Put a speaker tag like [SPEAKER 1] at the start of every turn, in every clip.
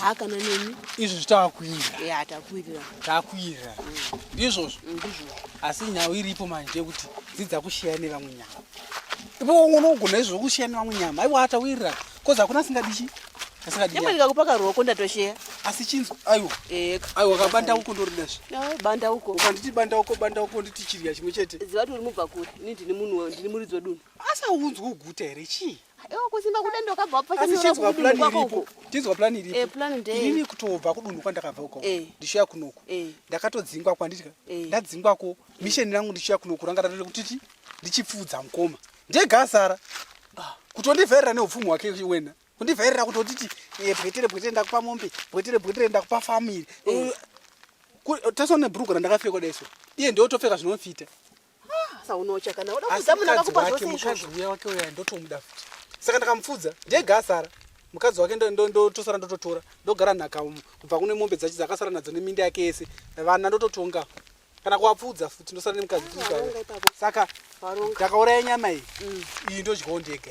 [SPEAKER 1] hakana
[SPEAKER 2] neni izvozvi takuirira
[SPEAKER 1] takuirira
[SPEAKER 2] takuirira
[SPEAKER 1] ndizvozvo mm, ndizvozvo
[SPEAKER 2] asi nhau iripo
[SPEAKER 1] manje yekuti dzidza kushiya nevamwe nyama ipo unogona izvozvo kushiya nevamwe nyama aiwa atawirira kozi hakuna asingadichi asingadinyama
[SPEAKER 2] ndikakupa karuoko ndatosheya asi chinzi
[SPEAKER 1] aiwa eh, aiwa kabanda uko ndoridazve banda uko
[SPEAKER 2] ukanditi banda uko banda
[SPEAKER 1] uko nditi chirya chimwe chete ziva kuti uri mubva kuri
[SPEAKER 2] ini ndini munhu ndini muridzi wedunhu asaunzwa uguta
[SPEAKER 1] here chii kusimba kudendo
[SPEAKER 2] kabva wapfasa nyora kudunhu kwako uko
[SPEAKER 1] tinzwa plan iripo eh plan ndei ini kutobva
[SPEAKER 2] kudunhu
[SPEAKER 1] kwandakabva uko eh. ndichiya kunoku eh. ndakatodzingwa kwanditya eh. ndadzingwa ko mission rangu ndichiya kunoku ranga ratoti kuti ndichipfudza mkoma ndega asara ah. kutondivherera neupfumi hwake wena kundivherera kutotiti eh, bwetere bwetere ndakupa mombe bwetere bwetere ndakupa family eh. tasona bhurugu randakapfeka daiso iye ndiotopfeka zvinofita Ah,
[SPEAKER 2] saunocha kana uda kuudza munhu akakupa zvose mukadzi uya wake uya
[SPEAKER 1] ndotomuda futi. Saka ndakamupfudza ndega asara. Mukadzi wake ndotosara ndototora ndogara nhaka kubva kune mombe dzacho dzakasara nadzo neminda yake yese vana ndototonga kana kuwapfudza futi ndosara nemukadzi ah, saka ndakauraya nyama iyi mm. iyi ndodyawo ndega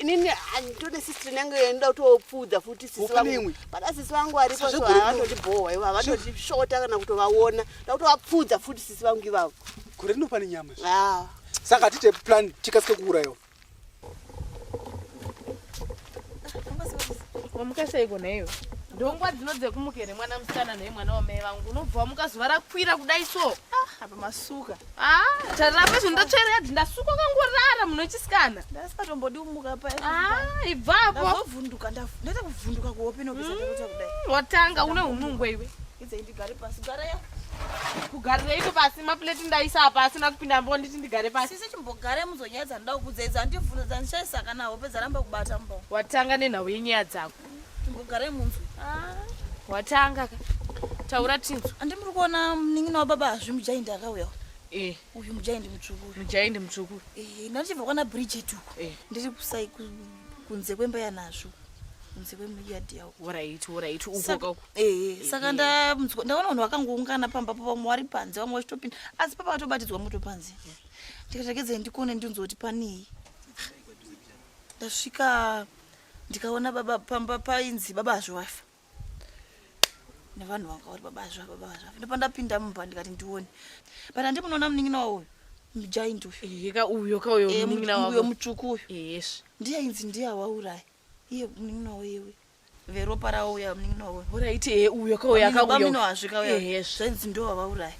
[SPEAKER 2] inini handitode sistri nange enda kutopfuudza futi sisi vangu pada sisi vangu varipo so havandondibhohwa ivo havandondishota kana kutovaona nda kutovapfuudza futi sisi vangu ivavo gore rinopa nenyama
[SPEAKER 1] saka hatite plan tikasike kuurayiwa
[SPEAKER 3] wamuka seiko naiwe ndongwa dzino dzekumuka here mwana musikana nei mwana wamai vangu unobva wamuka zuva rakwira kudai so ah, apa masuka ah, tarapa zvinhu ndatsvera yadhi ndasuka kangorara muno chisikana ndasingatombodi kumuka
[SPEAKER 4] pa ah, ibvapo
[SPEAKER 3] ndazovhunduka
[SPEAKER 4] ndaita kuvhunduka kuhope nobisa mm, watanga une
[SPEAKER 3] unungwe iwe ndigare pasi
[SPEAKER 4] gara ya kugarireiko
[SPEAKER 3] pasi mapuleti ndaisa apa asina kupinda mbo nditi ndigare pasi sisi chimbogare muzonyadza
[SPEAKER 4] ndoda kukudzaiza handivhunza dzandishaisa kana hope dzaramba kubata mbo watanga nenhau yenyaya
[SPEAKER 3] dzako chimbogare munzwi
[SPEAKER 4] ah. watanga
[SPEAKER 3] ka taura tinzwi andi muri kuona
[SPEAKER 4] munin'ina wababa hazvi mujaindi akauyawo Eh. uyu mujaindi mutsvukuru mujaindi mutsvukuru
[SPEAKER 3] eh, ndatichibva kwana
[SPEAKER 4] bridget uko eh. ndiri kusai kunze kwemba yanazvo kunze kwemuyadhi yawo orit orit
[SPEAKER 3] uko ehe saka
[SPEAKER 4] ndamunzwa ndaona vanhu vakangoungana pamba po vamwe vari panze vamwe vachitopinda asi papa vatobatidzwa moto panze ndikatakedzai ndikuone ndinzwa kuti panei ndasvika ndikaona baba pamba painzi baba hazviwafa nevanhu vanga vari baba hazviwafa baba hazviwafa ndopandapinda mumba ndikati ndione but handi munoona munin'ina wauyo mujaint uyuka uyo ka uyo munin'ina
[SPEAKER 3] wauyo mutsvuku uyo
[SPEAKER 4] yes ndiye ainzi
[SPEAKER 3] ndiye
[SPEAKER 4] awauraya iye munin'ina wayewe veropa rauya munin'ina wavo horaiti he uyo kauya
[SPEAKER 3] kauyabamino hazvikauya
[SPEAKER 4] zvenzi ndo wavauraya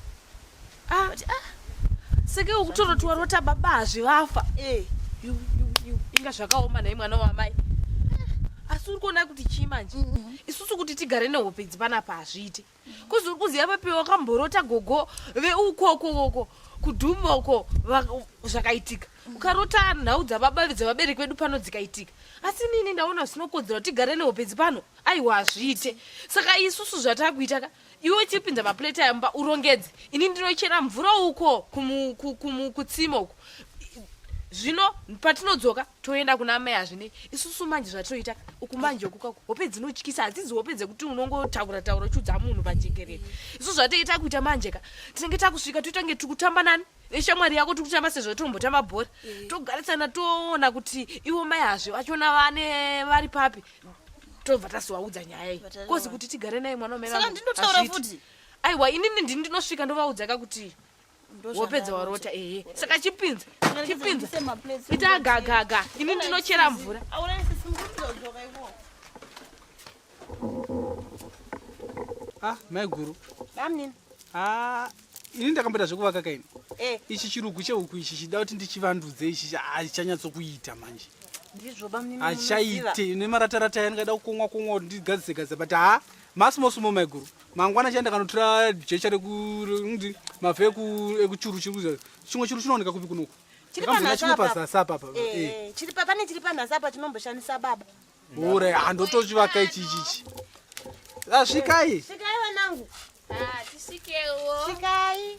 [SPEAKER 4] ah.
[SPEAKER 3] ah. seke ukutoroti warota baba hazvivafa eh. inga zvakaoma nhai mwana wamai ah. asi uri kuona kuti chii manje mm-hmm. isusu kuti tigare nehope idzi panapa hazviiti kuzi uri kuziva papi wakamborota gogo veukoko koko kudhuma uko zvakaitika ukarota nhau dzababa dzevabereki vedu pano dzikaitika asi nini ndaona zvinokodzera kuti tigare nehopenzi pano aiwa hazviite saka isusu zvatakuita ka iwe uchipinza maplate ayamba urongedze ini ndinochera mvura uko kutsima uko zvino patinodzoka toenda kuna mai hazvinei isusu manje zvatoita uku manje uku kako hope dzinotyisa hadzidzi hope dzekuti unongotaura taura uchiudza munhu pajekerere isu zvatoita kuita manje ka tinenge takusvika toita kunge tiri kutamba nani neshamwari yako tiri kutamba sezvo tombotamba bhora eh. togarisana toona kuti ivo mai hazve vachona vane vari papi tobva tasiwaudza nyaya iyi kozi kuti tigare naye mwana wamai vangu
[SPEAKER 4] aiwa inini ndini
[SPEAKER 3] ndinosvika ndovaudza ka kuti wopedza warota ehe saka chipinza chipinza ita gagaga ini ndinochera mvura ah,
[SPEAKER 1] maiguru ah, ini ndakamboita zvekuvaka kaini eh. ichi chirugu cheuku ichi chida kuti ndichivandudze ichi hachichanyatsokuita manje
[SPEAKER 2] hachichaite
[SPEAKER 1] nemarataratai ndingada kukomwa komwa kuti ndigadzise gadza but ha masimosumo maiguru ah, mangwana chai ndakanotora jecha rekunzi mavhu ekuchuru chiri chimwe churu chinooneka kupi kunoku chimwe
[SPEAKER 2] pazasi apa pa eh,
[SPEAKER 1] eh.
[SPEAKER 2] pane chiri panhasi apa chinomboshandisa baba ure
[SPEAKER 1] handotochivaka ichi ichichi asvikai ah, svikai vanangu
[SPEAKER 2] ah, tisvikewo
[SPEAKER 1] svikai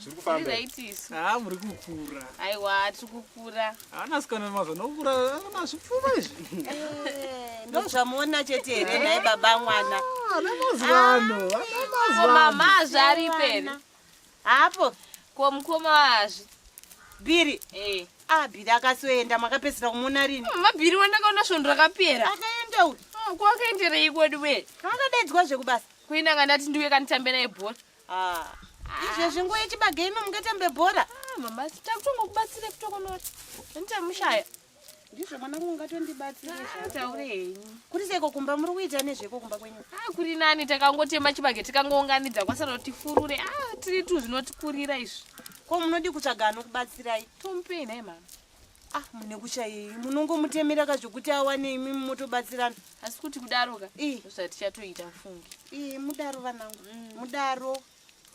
[SPEAKER 1] zviri kufamba right isu
[SPEAKER 3] ha muri kukura
[SPEAKER 1] aiwa tiri
[SPEAKER 3] kukura haana sikana mazva
[SPEAKER 1] nokura ana zvipfuma izvi eh,
[SPEAKER 2] ndozvamuona chete here naye baba mwana ah, ana mazivano
[SPEAKER 1] ah, ana mazivano mama
[SPEAKER 3] azvi ari peri hapo
[SPEAKER 2] ko mukoma
[SPEAKER 3] wazvi biri
[SPEAKER 2] eh ah biri akasoenda makapedzisira kumuona rini mama mm, biri wandakaona
[SPEAKER 3] svondo rakapera akaenda uyu ah,
[SPEAKER 2] ko akaendereiko
[SPEAKER 3] diwe akadaidzwa zvekubasa
[SPEAKER 2] kuinanga ndati ndiuye
[SPEAKER 3] kanitambe naye bhora Ah,
[SPEAKER 2] izvezvi nguva yechibage ino mungatambe bhora ah, mama
[SPEAKER 3] takutongokubatsire kutokonora andichamushaya ndizvo
[SPEAKER 2] mwana wangu ungatondibatsire ah, taure henyu
[SPEAKER 3] kuri seiko kumba
[SPEAKER 2] muri kuita nezveko kumba kwenyu a kuri nani
[SPEAKER 3] takangotema chibage tikangounganidza kwasara kuti tifurure a tiri tu zvinotikurira izvi ko munodii kutsvaga
[SPEAKER 2] anokubatsirai tomupei nhai mama
[SPEAKER 3] ah mune
[SPEAKER 2] kuchayei munongomutemera ka zvekuti awane imi mumotobatsirana asi kuti kudaro
[SPEAKER 3] ka zvatichatoita funge ii mudaro vanangu
[SPEAKER 2] mm. mudaro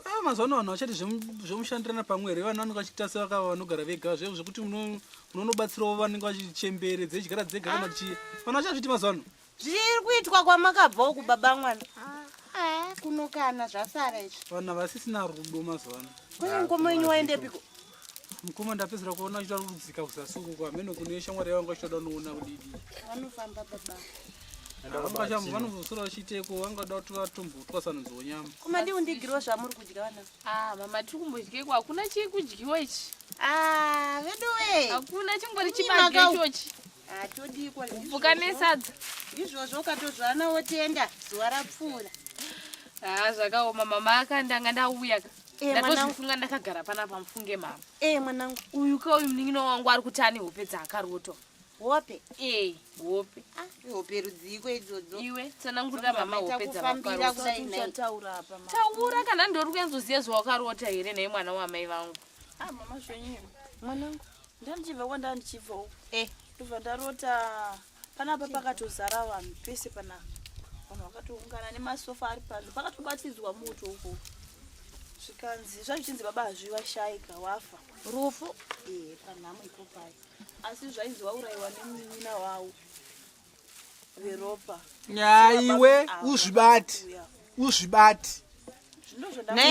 [SPEAKER 2] ah, mazuva
[SPEAKER 1] ano vanhu vachati zvemushandirana pamwe here vanhu vanenge vachiita se vakava vanogara vega zve zvekuti munonobatsirawo vanenge vachichembere dzedyara dzega kana ah. chii vanhu vachazviti mazuva ano zviri kuitwa
[SPEAKER 2] kwamakabvawo kubaba mwana ah, kunokana zvasara izvi vanhu vasisina
[SPEAKER 1] rudo mazuva ano kune mukoma wenyu
[SPEAKER 2] waendepiko mukoma
[SPEAKER 1] ndapedzera kuona uchita kudzika kusasunguko hameno kune shamwari yavanga uchitoda unoona kudidii
[SPEAKER 2] vanofamba baba
[SPEAKER 1] vanozosora vachiteko vangada kuti vatombotwa sanonzi wonyama kumadi undigiriwo
[SPEAKER 2] zvamuri kudya vana ah, mama tiri kumbodyeko
[SPEAKER 3] hakuna chii kudyiwa ichi ah,
[SPEAKER 2] veduwe hakuna chingori
[SPEAKER 3] chibageichochi
[SPEAKER 2] kupfuka nesadza
[SPEAKER 3] izvozvo
[SPEAKER 2] ukatozvana wotenda zuva rapfuura haa ah,
[SPEAKER 3] zvakaoma mama akandanga ndauya ka eh, ndatozvifunga ndakagara pana pamufunge mama ee eh, mwanangu uyu
[SPEAKER 2] ka uyu munin'ina
[SPEAKER 3] wangu ari kuti ane hope dzaakarotwa hope
[SPEAKER 2] ee eh, hope
[SPEAKER 3] ah, hope
[SPEAKER 2] rudziiko idzodzo iwe tsanangurira
[SPEAKER 3] mama hope dzavakarotaura kana ndori kuenzoziva zvawakarota here nhai mwana wamai vangu Ah mama zvenyu
[SPEAKER 4] mwanangu ndandichibva kwandava ndichibva uku eh. ndobva ndarota panapa pakatozara vanhu pese panapa vanhu vakatoungana nemasofa ari pazvo pakatobatidzwa moto uko zvikanzi zvazvichinzi baba hazvivashaika wafa rufu
[SPEAKER 2] eh, panhamo ikopai asi zvainzi
[SPEAKER 4] waurayiwa nemunin'ina wavo veropa nyaiwe
[SPEAKER 1] uzvibati uzvibati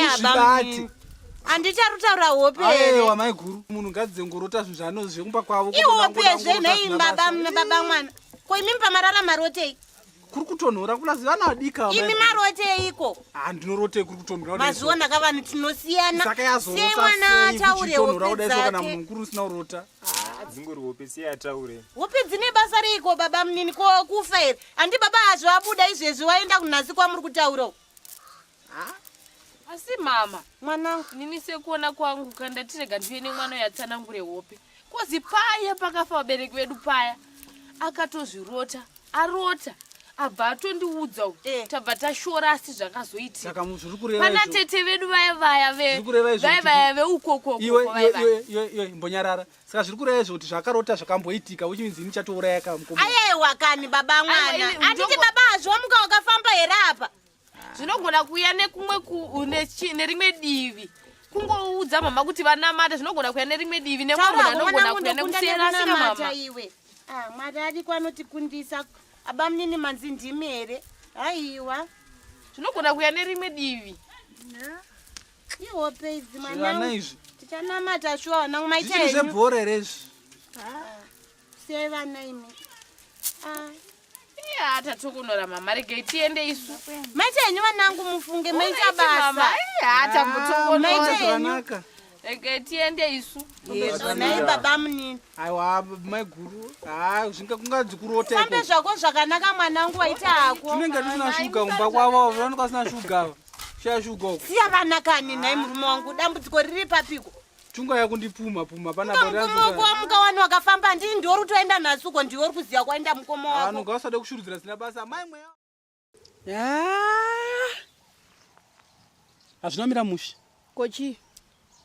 [SPEAKER 2] uzvibati handiti ari kutaura hope ewa mai guru munhu
[SPEAKER 1] ngadzengorota zvinhu zvaanozi zvekumba kwavo ihope zve nei
[SPEAKER 2] baba baba mwana ko imi mupamarara marotei kuri kutonhora
[SPEAKER 1] kulazi vana vadika imi maroteiko
[SPEAKER 2] ha ndinorotei kuri
[SPEAKER 1] kutonhora mazuva ndaka vanhu
[SPEAKER 2] tinosiyana sei mwana
[SPEAKER 1] ataure
[SPEAKER 2] hope dzake kana munhu kuri usina
[SPEAKER 1] kurota Ah, dzingori hope
[SPEAKER 5] siya ataure hope dzine basa
[SPEAKER 2] reiko baba munini ko kufa here handi baba azvo abuda izvezvi waenda kunhasi kwamuri kutaura ah.
[SPEAKER 3] asi mama mwanangu nini
[SPEAKER 2] sekuona
[SPEAKER 3] kwangu kandatirega ndiye nemwana yatsanangure hope kozi paya pakafa vabereki vedu paya akatozvirota arota abva atondiudza eh. tabva tashora asi zvakazoitikapana tete vedu vaya vaya vaya vaya veukokombonyarara
[SPEAKER 1] saka zviri kureva izvo kuti zvakarota zvakamboitika which means ini chatouraya kamukomo ayewa kani baba
[SPEAKER 2] mwana anditi baba hazviwa muka wakafamba here apa zvinogona
[SPEAKER 3] kuuya nekumwe nerimwe divi kungoudza mama kuti vanamata zvinogona kuuya nerimwe divi nemwana anogona kuuya nekusiyana namama iwe ah,
[SPEAKER 2] mwari ariko anotikundisa abamunini manzi ndimi here haiwa zvinogona
[SPEAKER 3] kuuya nerimwe divi ihope
[SPEAKER 2] idzi mwana izvi tichanamata shuwa vana maita henyu zvebhora here izvi
[SPEAKER 1] ah,
[SPEAKER 2] sei vana imi ah. Iya
[SPEAKER 3] tatokunora mama regai tiende isu. Maita henyu vanangu
[SPEAKER 2] mufunge maita basa. Iya tambotongonora. Maita henyu.
[SPEAKER 1] Regai tiende
[SPEAKER 3] isu. Nai baba
[SPEAKER 2] munini. Aiwa mai
[SPEAKER 1] guru. Ah zvinga kungadzi kurota iko. Sambe zvako zvakanaka
[SPEAKER 2] mwanangu waita hako. Tinenge tusina shuga
[SPEAKER 1] kumba kwavo. Vanoka sina shuga. Shaya shuga uko. Siya vana kani nai
[SPEAKER 2] murume wangu dambudziko riri papiko. Tunga yakundipuma
[SPEAKER 1] puma pana bora. Mukoma wako
[SPEAKER 2] wamuka wani wakafamba ndini ndiwe uri kutoenda nhasi uko ndiwe uri kuziva kwaenda mukoma wako. Ano ngawasade kushurudzira zina
[SPEAKER 1] basa mai mweya. Ah! Hazvina mira mushi. Kochi.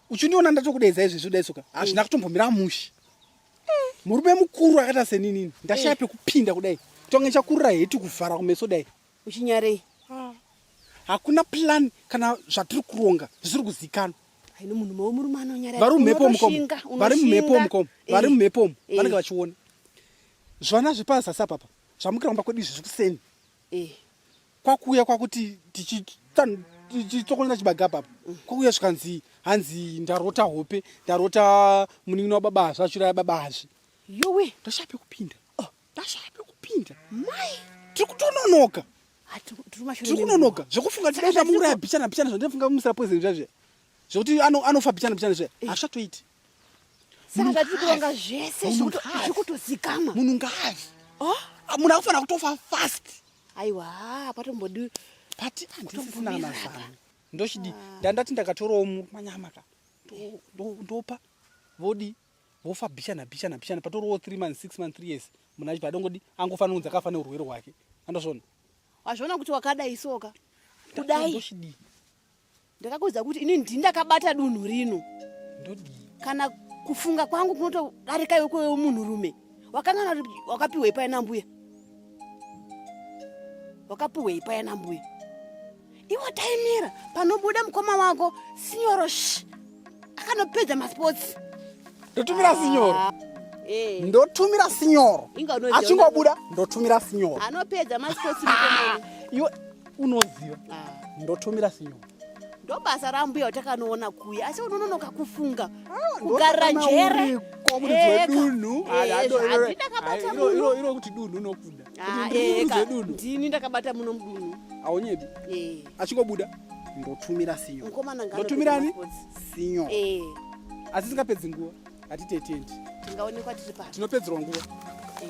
[SPEAKER 1] Uchindiona ndatokudeza izvi zvoda
[SPEAKER 2] isoka.
[SPEAKER 1] Hazvina kutombomira mushi. Eh. Murume mukuru akata seninini. Ndashaya eh. pekupinda kudai. Tonge chakurira heti kuvhara kumeso dai. Uchinyarei?
[SPEAKER 2] Ah,
[SPEAKER 1] hakuna plan kana zvatiri kuronga zvisiri kuzikanwa. Haino munhu mawo
[SPEAKER 2] murume anonyara. Vari mumhepo mukomo.
[SPEAKER 1] Vari mumhepo mukomo. Vari eh, mumhepo umu. Eh. Vanenge vachiona. Zvana zvepaza sapa papa. Zvamukira kumba kwedu izvi zvikuseni. Eh. Kwakuya kwakuti tichi tichitokonera chibaga papa kwakuya zvikanzi hanzi ndarota hope ndarota munin'ina wababa hazvi achiraya baba hazvi yowe ndoshape
[SPEAKER 2] kupinda
[SPEAKER 1] oh. Ndashaya pekupinda. Mai. Tiri kutononoka. Ah, tiri kunonoka zvekufunga tida kuti amuuraya bichana bichana zvandafunga kumusira poison zvazve zvekuti anofa bichana bichana zve eh. hazvichatoiti
[SPEAKER 2] saka zvatiri kuronga zvese zvikutozikamwa munhu ngaazi
[SPEAKER 1] oh? ah, munhu akufanira kutofa fast aiwa
[SPEAKER 2] patombodi pati
[SPEAKER 1] andisisina mazano ndochidi ah. ndandati ndakatorawo manyama ka ndopa vodii vofa bhichana bhichana bhichana patoriwo three months six months three years munhu achipa adongodi angofanira kunzi akafa neurwere hwake andozviona wazviona kuti
[SPEAKER 2] wakadai soka kudai
[SPEAKER 1] ndakakuudza
[SPEAKER 2] kuti ini ndini ndakabata dunhu rino ndodii
[SPEAKER 1] kana
[SPEAKER 2] kufunga kwangu kunotodarika yokoyo munhurume wakanana wakapiwei paya nambuya wakapiwei paya nambuya iwo taimira panobuda mukoma wako sinyoro sh akanopedza masports ndotumira sinyoro ah,
[SPEAKER 1] eh. ndotumira sinyoro achingobuda ndotumira sinyoro anopedza masports
[SPEAKER 2] mukoma ah, iwe
[SPEAKER 1] unoziva ah. ndotumira sinyoro ndobasa
[SPEAKER 2] rambuya utakanoona kuya asi unononoka kufunga ah, kugara jere dunhu
[SPEAKER 1] kuti dunhu unokuda ah,
[SPEAKER 2] ndini ndakabata muno mudunhu aunyebi
[SPEAKER 1] eh. achingobuda ndotumira sinyo ndotumirani sinyo eh. asi singapedzi nguva hatite tendi
[SPEAKER 2] tingaonekwa
[SPEAKER 1] tiri pa tinopedzerwa nguva eh.